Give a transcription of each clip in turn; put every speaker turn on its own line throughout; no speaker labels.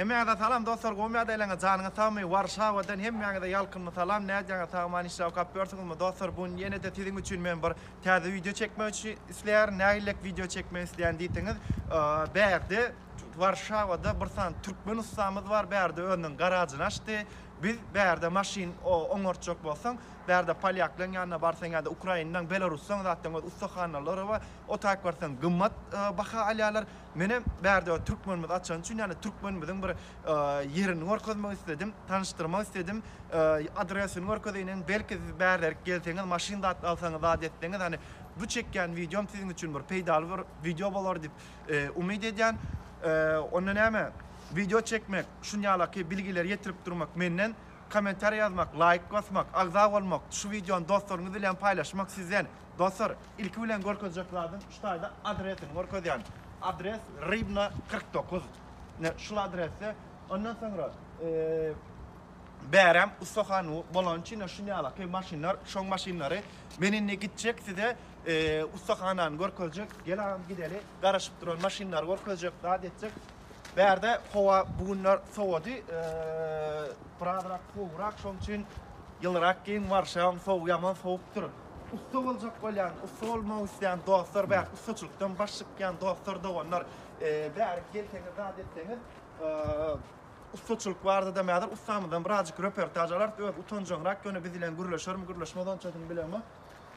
Hemmäňize salam dostlar gowy ýagdaýlaňyz janyňyz sagmy Warşawadan hemmäňize ýalkymly salam nädýäňiz sagman işler okap ýörsiňizmi dostlar bu gün ýenede siziň üçin men bir täze wideo çekmek üçin isleýärin nägilek wideo çekmek isleýän diýseňiz bärde Warşawada bir sany türkmen ussamyz bar bärde özüniň garažyny açdy biz bärde maşyn oňartjak bolsaň bärde polýaklaň ýanyna barsaň ýa-da ukrainlaň belarusdan zatdan ussa hanalary bar otag barsaň gymmat baha alýarlar Meni bärde türkmenimiz açany üçin, ýagny türkmenimiziň bir ýerini görkezmek isledim, tanyşdyrmak isledim. Adresini görkezeýinem, belki siz bärderik gelseňiz, maşyn zat alsaňyz, zat etseňiz, hani bu çekýän wideom siziň üçin bir peýdaly bir wideo bolar diýip umyt edýän. Onda näme, wideo çekmek, şunýalaky bilgileri ýetirip durmak menden, kommentariýa ýazmak, laýk basmak, agza bolmak, şu wideony dostlaryňyz bilen paýlaşmak sizden. Dostlar, ilki bilen görkezjek zadym şu taýda adresini görkezýän. Adres Rybna kyrk dokuz. Ine, şul adresde. Ondan soňra, bärem ustahan bolany üçin şu ýalaky maşynlar, şoň maşynlary. Men indi gitjek size ustahanany görkezjek. Gel agam gideli. Garaşyp duran maşynlary görkezjek, zat etjek. Bärde howa bu günler sowady. Birazrak sowugrak, şoň üçin ýylyrak geýin, Warşawa sowuk, ýaman sowukdyr. Ussa boljak bolýan, ussa bolmak isleýän dostlar, bäh, ussaçylykdan baş çykýan dostlar, doganlar, bärik gelseňiz, zat etseňiz, ussaçylyk barada-da häzir ussamyzdan birazjyk reportaž alarys, özi utanjaňrak, ýöne biz bilen gürleşermi, gürleşmez onçasyny bilemok.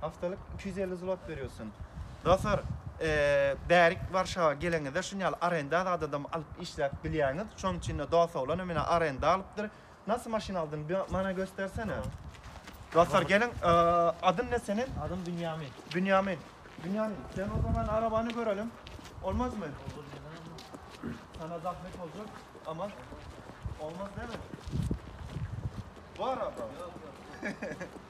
Haftalyk iki
ýüz elli zlot berýosyn. Dostlar, bärik Warşawa geleňizde şuny ýaly arenda zadadam alyp işläp bilýäňiz. Şonuň üçin-de dos-oglanam menä arenda alypdyr. Nasy maşyn aldyň, mana göstersene.
Dostlar, geliň,
adyň ne seniň? Adym Bünýamin.
Bünýamin.
Bünýamin, sen o zaman arabany görelim. Olmazmy? Sana
zahmet
boljak, ama olmaz däl-mi? Bu araba? Ýok, ýok.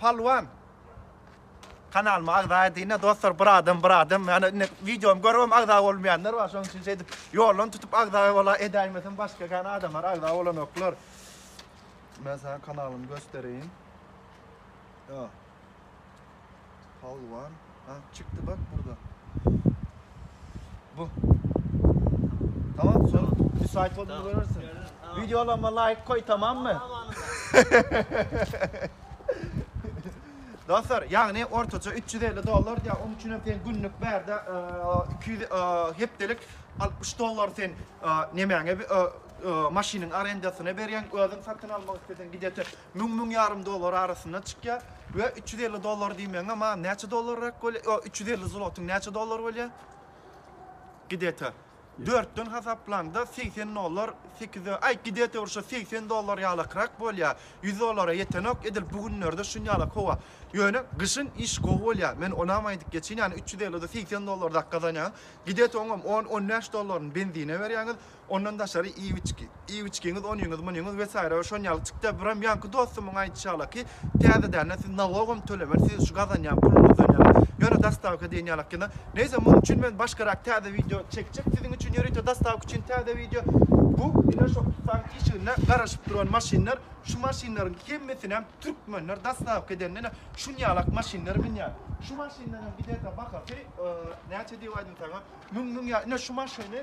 Pälwan
kanalyma agza edine dostlar bir adam bir adam yani indi videomu görüp agza bolmayanlar var şonuň üçin şeýdip ýoldan tutup agza bola edäýmesin başga kan adamlar agza bolanoklar men sana kanalymy göstereýin Pälwan ha çykdy bak burada. Bu. Tamam son bir sayt oldu görürsün. Videolama
like koy
tamam mı? Dostlar, yani ortaça 350 dolar ya onun için sen günlük berde e, 200 e, heptelik 60 dolar sen e, nemäňe e, e, maşynyň arendasine berýän, özüň satyn almak istesen gidete Müň-müň ýarym dollar arasynda çykýar we üç ýüz elli dollar diýmegiňem a näçe dollarrak bolýar? Ýok, üç ýüz elli zlotyň näçe dollar bolýar? Gde-ta dörtden hasaplanda segsen dollar, sekiz, aý, gde-ta bir şo segsen dollar ýalakrak bolýar. Ýüz dollara ýetenok, edil bu günlerde şunýalak howa. Ýöne gyşyn iş gowy bolýar. Men onam aýdyp geçeýin, ýagny üç ýüz elli-de segsen dollardak gazanýaňyz. Gde-ta oňam on, on bäş dollaryny benzine berýäňiz. Ondan daşary iwiçki. Iwiçkiňiz, onyňyz, munyňyz wesaýra we şon ýaly çykýar. Biram ýaňky dostumyň aýdyşy ýala ki, täzedänä siz nalogam tölemän, siz şu gazanýan puluňyzdan ýaňa ýöne dostawka diýen ýalak ýene. Neýse, munuň üçin men başgarak täze wideo çekjek. Siziň üçin ýörite dostawka üçin täze wideo. Bu, ine şo ussanyň işiginde garaşyp duran maşynlar. Şu maşynlaryň hemmesinem türkmenler dostawka edende ine şun ýalak maşynlar münýär. Şu maşynlaryň giderde bahasy, näçe diýip aýdym saňa, müň, müň ýa, ine şu maşyny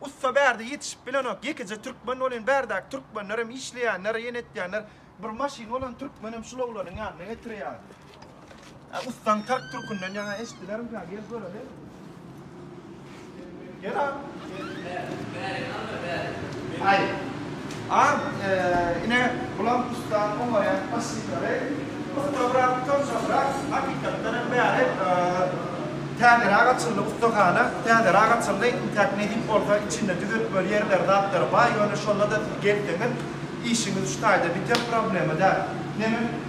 Ussa bärde ýetişip bilenok, ýekeje türkmen bolyn bärdäki türkmenlerem işleýänler, ýene etýänler, bir maşyn bolan türkmenem şul oglanyň ýanyna getirýär. Hä ussaň tark türkünden ýaňa eşdilerimkä gel göreli. Gel a. Gel bäri. Bäri alma bäri. Aý. A, ine, bulam ussat oňarýan faşistlary ussabrak, çylşybrak, hakykatdanam bäri täzeräk açyldy ussahana, täzeräk açyldy, intäk nesip bolsa içinde düzetmeli ýerleri, zatlary baý, ýöne şonda-da siz gelseňiz, işiňiz şu taýda biter, problema däl. Neneň.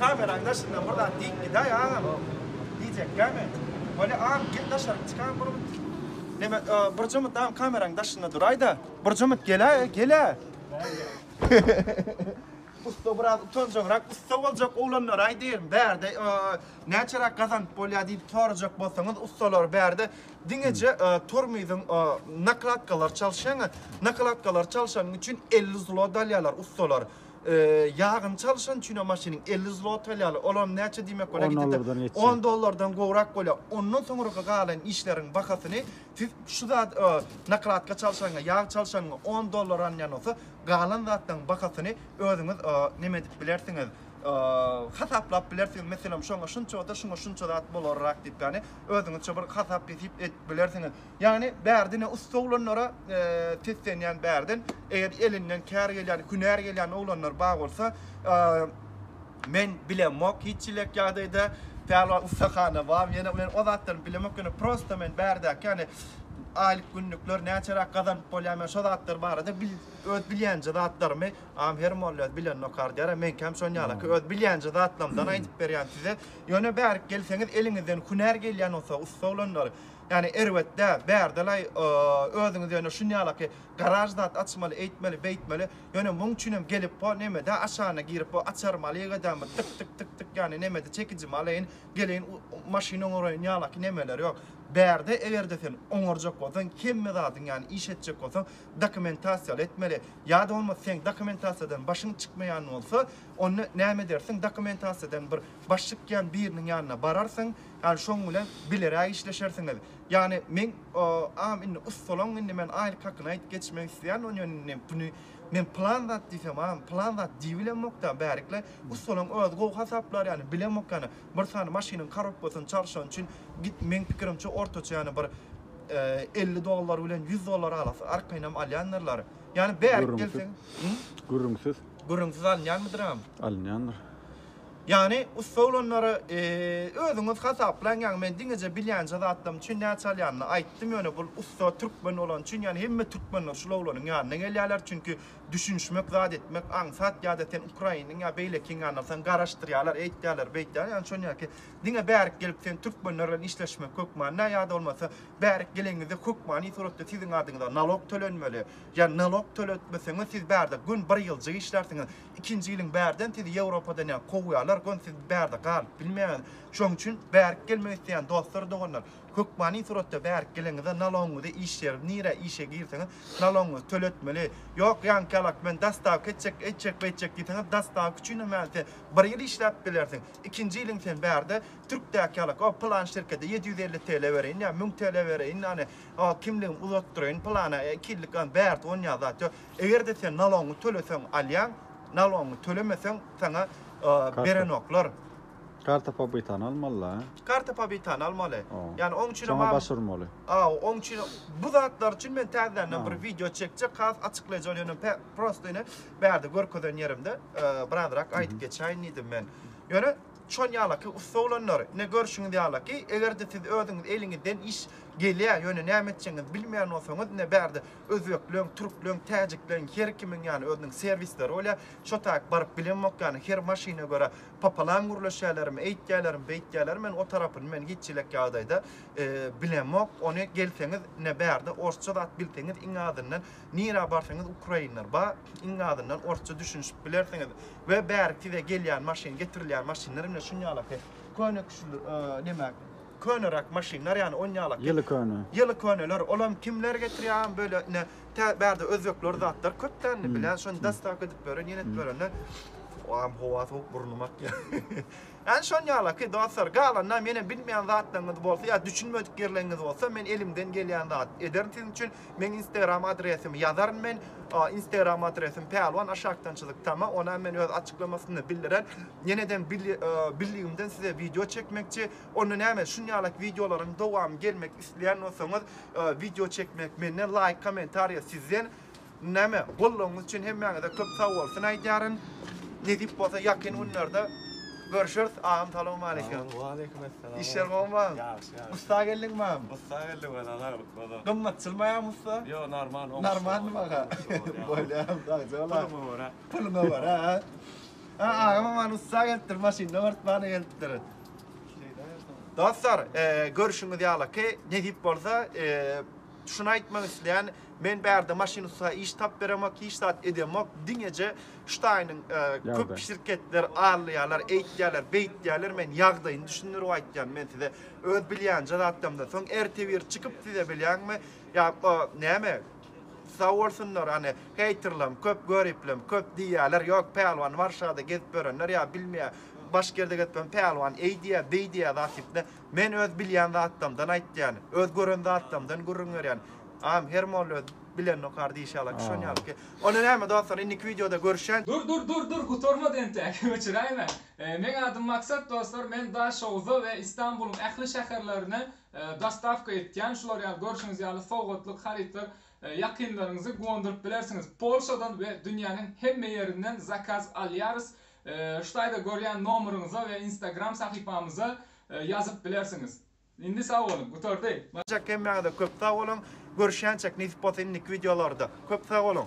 Kameraň daşyndan bir zat diýip gidaý agam. Diýjekkämi? Weli agam gel daşaryk çykaý bir mut. Neme bir jumut agam kameraň daşynda duraýda. Bir jumut geläý, gel-ä. Ussa biraz utanjaňrak ussa boljak oglanlaraý diýerin. Bärde näçeräk gazanyp bolýar diýip sorajak bolsaňyz ussalar bärde diňeje tormyzyň nakladkalary çalyşýaňa, nakladkalary çalyşanyň üçin elli zlot alýarlar ussalar. Ýagyny çalyşan üçinem maşynyň elli zloty alýarlar. Olam näçe diýmek bolýar? On dollardan geçýär. On dollardan gowrak bolýar. Ondan soňraky galan işleriň bahasyny siz şu zat nakladka çalyşanyňa, ýag çalyşanyňa on dollar alynýan bolsa, galan zatlaryň bahasyny özüňiz neme edip bilersiňiz, hasaplap bilersiňiz. Meselem, şoňa şunça bolsa, şuňa şunça zat bolarrak diýip, ýagny özüňizçe bir hasap-hesip edip bilersiňiz. Ýagny bärde ne ussa oglanlara seslenýän bärden eger elinden kär gelýän hünär gelýän oglanlar bar bolsa men bilemok hiç ilek ýagdaýda pälwan ussahana bar ýene men o zatlaryny bilemok ýöne prosta men bärdäki ýagny aýlyk günlükler näçeräk gazanyp bolýar men şo zatlar barada öz bilýänje zatlarymy am her molla öz bilenini okar diýer menkäm şon ýalaky öz bilýänje zatlarymdan aýdyp berýän size ýöne bärik gelseňiz eliňizden hünär gelýän bolsa ussa oglanlar Ýani erbet dä, bärdelaý özüňiz ýöne şunýalaky garaž zat açmaly eýtmeli beýtmeli ýöne muň üçinem gelip bo nemede aşagyna girip bo açarymy alyk edämi tyk tyk tyk tyk ýani nemede çekijimi alaýyn geleýin maşyn oňaraýyn ýalaky nemeler ýok bärde egerde sen oňarjak bolsaň hemme zadyň ýani iş etjek bolsaň dokumentasiýaly etmeli ýada bolmasa seň dokumentasiýadan başyň çykmaýan bolsa onda näme edersiň dokumentasiýadan bir baş çykýan biriniň ýanyna bararsyň Ýani şoň bilen bileräk işleşersiňiz. Ýani meň am indi ussalaň indi men aýlyk hakyny aýdyp geçmek isleýän onýan indi buny men plan zat diýsem am plan zat diýibilemok da bärikle ussalaň özi gowy hasaplar ýani bilemok ýani bir sany maşynyň korobkasyny çalşan üçin git meň pikirimçe ortaça ýani bir elli dollar bilen ýüz dollar arasy arkaýynam alýandyrlar ýani bärik gelse gürrüňsiz gürrüňsiz alynýanmydyr am? Alynýandyr.
Ýagny
ussa olanlary özüňiz hasaplaň ýagny men diňeje bilýänje zatlarym üçin näçe alýanyny aýtdym ýöne bul ussa türkmen bolany üçin ýagny hemme türkmenler şul oglanyň ýanyna gelýärler çünki düşünişmek zat etmek aňsat ýada sen ukrainiň ýa beýlekiň ýanyna alsaň garaşdyrýarlar eýtýärler beýtýärler ýagny şonýaki diňe bärik gelip sen türkmenler bilen işleşmek hökmanda ýada bolmasa bärik gelenizde hökmany suratda siziň adyňyza nalog tölenmeli ýa nalog töletmeseňiz siz bärde gün bir ýyljyk işlärsiňiz ikinji ýylyň bärden sizi Ýewropadan ýa kowýarlar gön siz bärde galyp bilmeýäňiz şoň üçin bärik gelmek isleýän dostlar doganlar hökmany suratda bärik geleňizde nalogyňyzy iş ýeriňiz nirä işe girseňiz nalogyňyzy töletmeli ýok ýaňky ýalak men dastawka etjek eýtjek beýtjek diýseňiz dastawka üçinem ýaly sen bir ýyl işläp bilersiň ikinji ýylyň sen bärde türkdäki ýalak o pylan şirkede ýedi ýüz elli TL bereýin ýa müň TL bereýin ýany o kimligimi uzatdyraýyn pylana iki ýyllyk ýany bärde onýa zat ýok. Eger-de sen nalogyňy töleseň alýaň, nalogyňy tölemeseň saňa berenoklar. Karta
pobitany almalyda. Karta pobitany
almaly. Ýani oň üçin Soňa baş urmaly.
Aw, oň üçin
bu zatlar üçin men täzeden bir wideo çekjek, has açyklaýjy ol ýöne prosta ine bärde görkezen ýerimde birazrak aýdyp geçäýin diýdim men. Ýöne şon ýalaky ussa oglanlar, ine görşüňiz ýalaky, eger-de siz özüňiz eliňizden iş gelýä, ýöne näme etjegiňizi bilmeýän bolsaňyz, ine bärde Özbekleň, türkleň, täjikleň her kimiň ýaly özüniň serwisleri bolýar. Şo taýyk baryp bilemok ýaly her maşyna görä popolam gürleşýälermi, eýtýälermi, beýtýälermi men o tarapyny men hiç çilek ýagdaýda bilemok. Ony gelseňiz ine bärde orsça zat bilseňiz iň azyndan nirä barsaňyz ukrainler bar, iň azyndan orsça düşünişip bilersiňiz we bäri size gelýän maşyn getirilýän maşynlar ine şunýala ses köne küşüli neme Köneräk maşynlar ýany on ýalak. Ýyly köne. Ýyly köneler olam kimler getirýär böyle ine tä bärde özbekler zatlar köp dä indi bilýän şony dastaw edip beren ýene edip berende oam howa sowuk burnum akýa. Ýany şon ýalaky dostlar galanda menem bilmeýän zatlaryňyz bolsa ýa düşünmedik ýerleriňiz bolsa men elimden gelýän zat ederin siziň üçin meň instagram adresimi ýazaryn men instagram adresim pälwan aşakdan çyzyk tama onam men öz açyklamasynda bildiren ýeneden bildigimden size wideo çekmekçi Onda näme şunýalak wideolaryň dowamy gelmek isleýän bolsaňyz wideo çekmek menden laýk kommentariýa sizden näme goldawyňyz üçin hemmäňize köp sagbolsun aýdýaryn nesip bolsa ýakyn günlerde görşeris agam salowmaleýkim Waleýkim essalam
işler gowumy ýagşy ýagşy ussa
geldiňmam ussa geldik welin saglyk
bolsun gymmatçylmaýam ussa
ýok normal oňşy
normalmy aga
bolýam sagja bol puluňa görä puluňa
görä
ha agamam ussa gelipdir maşynda örtmana gelipdir Dostlar, e, görüşüňiz ýalaky, nesip bolsa, e, şunu aýtmak isleýän, men bärde maşyn usta iş tap beremok, hiç zat edemok, diňeje şu taýynyň e, köp şirketler allaýarlar, eýtýärler, beýtýärler, men ýagdaýyny düşündirip aýtýan, men size öz bilýänje zatlarymdan soň ertebir çykyp size bilýäňmi, ýa o näme, Sag bolsunlar hany heýterlam köp göriplim köp diýýäler ýok Pälwan Warşada gezip ýörenler ýa bilmeýä başga ýerde gezip ýören Pälwan eý diýýä beý diýýä zat diýipne men öz bilýän zatlamdan aýtýan öz gören zatlamdan gürrüň berýän am her molla öz bilenokar diýşi ýaly şon ýaly ki onda näme dostlar indiki wideoda görüşen. Dur dur dur dur gutarmady
entek öçüräýme. Meň adym Maksat dostlar men Daşoguza we Istanbulyň ähli şäherlerine Dostawka etýän şular ýaly görşüňiz ýaly sowgatlyk harytlar ýakynlaryňyzy guwandyryp bilersiňiz. Polşadan we dünýäniň hemme ýerinden zakaz alýarys. Ştaýda görýän nomeryňyza we instagram sahypamyza
ýazyp
bilersiňiz. Indi sag
boluň,
gutardy.
Çekemmäňize
köp
sag boluň. Görüşýänçek nesip bolsa indiki wideolarda. Köp sag boluň.